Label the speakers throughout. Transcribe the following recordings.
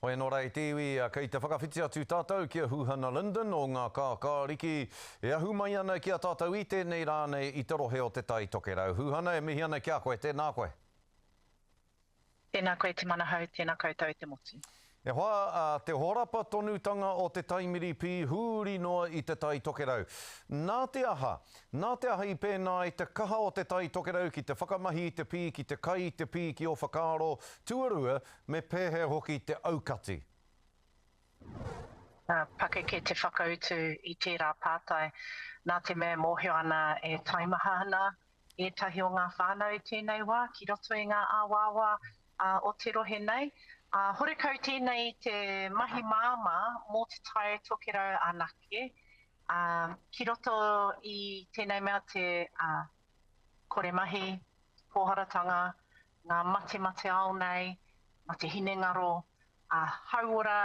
Speaker 1: Hoi anō rā e te iwi, kei te whakawhiti atu tātou ki a Huhana Linden o ngā Kākāriki, e ahu mai ana ki a tātou i tēnei rā nei i te rohe o Te Tai Tokerau. Huhana, e mihi ana ki a koe, tēnā koe. Tēnā
Speaker 2: koe Te Manahau, tēnā koutou te motu. E hoa,
Speaker 1: te horapa tonutanga o te taimiripī huri noa i Te Tai Tokerau. Nā te aha? Nā te aha i pēnā ai te kaha o Te Tai Tokerau ki te whakamahi i te pī, ki te kai i te pī ki ō whakaaro tuarua Me pēhea hoki te aukati?
Speaker 2: Ka pakeke te whakautu i tērā pātai, nā te mea e mōhio ana e taimaha ana ētahi o ngā whānau i tēnei wā ki roto i ngā awaawa o te rohe nei, ā, horekau tēnei i te mahi māmā mō Te Tai Tokerau anake, ā, ki roto i tēnei mea te kore mahi, pōharatanga, ngā matemate ao nei, mā te hinengaro ā-hauora,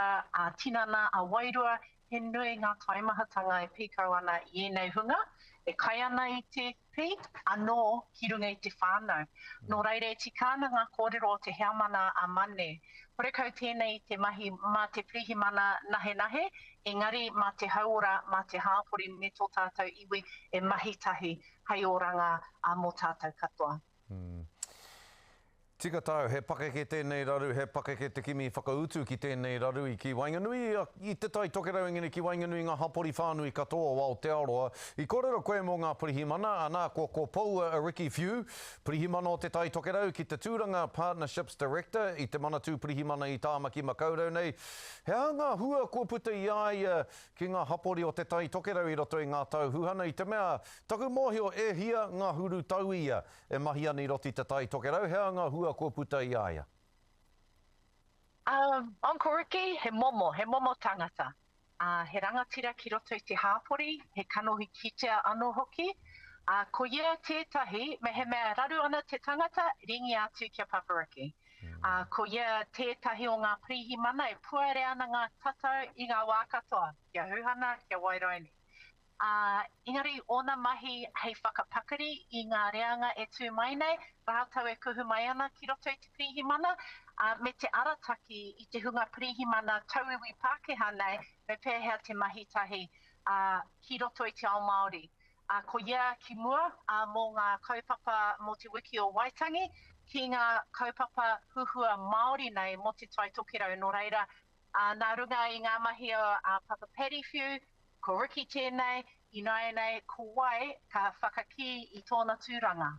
Speaker 2: ā-tinana, ā-wairua, he nui ngā taimahatanga e pīkau ana i ēnei hunga, e kai ana i te pī anō ki runga i te whānau. Nō reira, e tika ana ngā kōrero o te heamana a Mane. Horekau tēnei i te mahi mā te pirihimana nahenahe, engari mā te hauora, mā te hāpori me tō tātou iwi e mahi tahi hei oranga mō tātou katoa.
Speaker 1: Tika tāu, he pakeke tēnei raru, he pakeke te kimi whakautu ki tēnei raru i ki waenganui i a, i Te Tai Tokerau engari ki waenganui i ngā hapori whānui katoa o Aotearoa. I kōrero koe mō ngā pirihimana, anā, ko, ko Poua Ricky Few, Pirihimana o Te Tai Tokerau ki te tūranga Partnerships Director i te Manatū Pirihimana i Tāmaki Makaurau nei. He aha ngā hua kua puta i a ia ki ngā hapori o Te Tai Tokerau i roto i ngā tau huhana i te mea, taku mōhio e hia ngahuru tauia e mahi ana i roto i Te Tai Tokerau, he aha ngā hua kua puta i a ia? Umm,
Speaker 2: Uncle Ricky, he momo, he momo tangata. Ā, he rangatira ki roto i te hāpori, he kanohi kitea anō hoki. Ā, ko ia tētahi, mehemea raru ana te tangata, ringia atu ki a Papa Ricky. ā, ko ia tētahi o ngā pirihimana e puare ana ngā tatau i ngā wā katoa, ki a Huhana, ki a Wairaini. Ā, engari ōna mahi hei whakapakari i ngā reanga e tū mai nei, rātou e kuhu mai ana ki roto i te pirihimana, ā, me te arataki i te hunga pirihimana tauiwi Pākehā nei me pēhea te mahi tahi, ā, ki roto i te ao Māori. a koia ki mua, a mo nga kaupapa mo te wiki o Waitangi, ki nga kaupapa huhua Maori nei mo Te Tai Tokerau no reira, a na runga i nga mahi o a Papa Paddy Whiu, ko Ricky tenei, inaenei ko wai ka whakakii i tona turanga.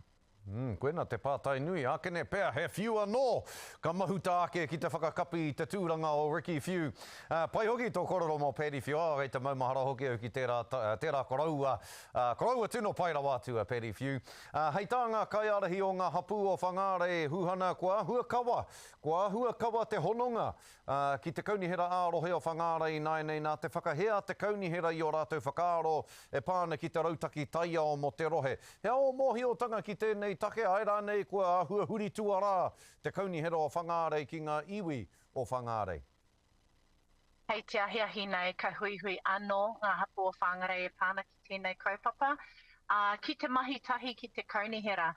Speaker 2: Umm, koina te
Speaker 1: pātai nui, ākene pea he whiu anō! Ka mahuta ake ki te whakakapi i te tūranga o Ricky Whiu. Ā, pai hoki tō kōrero mō Paddy Whiu, ā, kei te maumahara hoki au ki tērā, tērā koroua, ā, koroua tino pai rawa atu a Paddy Whiu. Ā, hei tā ngā kaiārahi o ngā hapū o Whangārei, Huhana, kua āhua kawa, kua āhua kawa te hononga, Ā, ki te Kaunihera ā-Rohe o Whangārei ināianei nā te whakahē a te Kaunihera i ō rātou whakaaro e pā ana ki te rautaki taiao mō te rohe. He ao mōhiotanga ki tēnei take, āe rānei kua āhua huri tuarā te Kaunihera o Whangārei ki ngā iwi o Whangārei. Hei te ahiahi
Speaker 2: nei, ka huihui anō ngā hapū o Whāngarei e pā ana ki. tēnei kaupapa, ā, ki te mahi tahi ki te Kaunihera,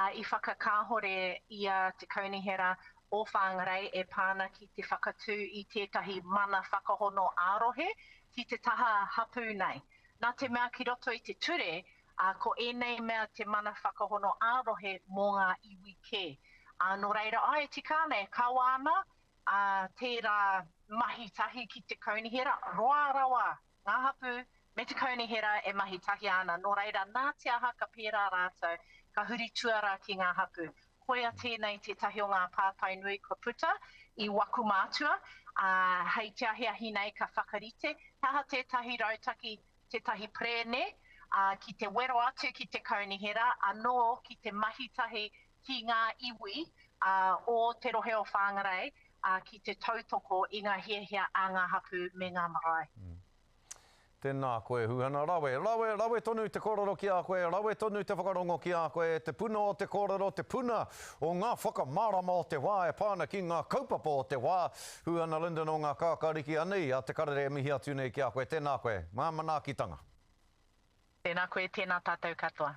Speaker 2: ā, i whakakāhore i a Te Kaunihera o Whāngarei e pā ana ki te whakatū i tētahi mana whakahono ā-rohe ki te taha hapū nei. Nā te mea ki roto i te ture, ā, ko ēnei mea te mana whakahono ā-rohe mō ngā iwi kē. Ā, nō reira, ā, e tika ana, e kawa ana, ā, tērā mahi tahi ki te Kaunihera, roa rawa ngā hapū, me te kaunihera e mahi tahia ana, nō reira nā te aha ka pērā rātou, ka huri tuarā ki ngā hapū. Koia tēnei tētahi o ngā pātai nui kua puta i waku mātua, ā, hei te ahiahi nei ka whakarite, he aha tētahi rautaki, tētahi perēne, ā, ki te wero atu ki te kaunihera, anō ki te mahi tahi ki ngā iwi o te rohe o Whāngarei ki te tautoko i ngā hiahia a ngā hapū me ngā marae.
Speaker 1: Tēnā koe Huhana rawe, rawe, rawe tonu te kōrero ki a koe, rawe tonu te whakarongo ki a koe, te puna o te kōrero, te puna o ngā whakamārama o te wā e pā ana ki ngā kaupapa o te wā. Huhana Lyndon o ngā Kākāriki anei a Te Karere e mihi atu nei ki a koe, tēnā
Speaker 2: koe,
Speaker 1: ngā manaakitanga. Tēnā
Speaker 2: koe,
Speaker 1: tēnā tātou katoa.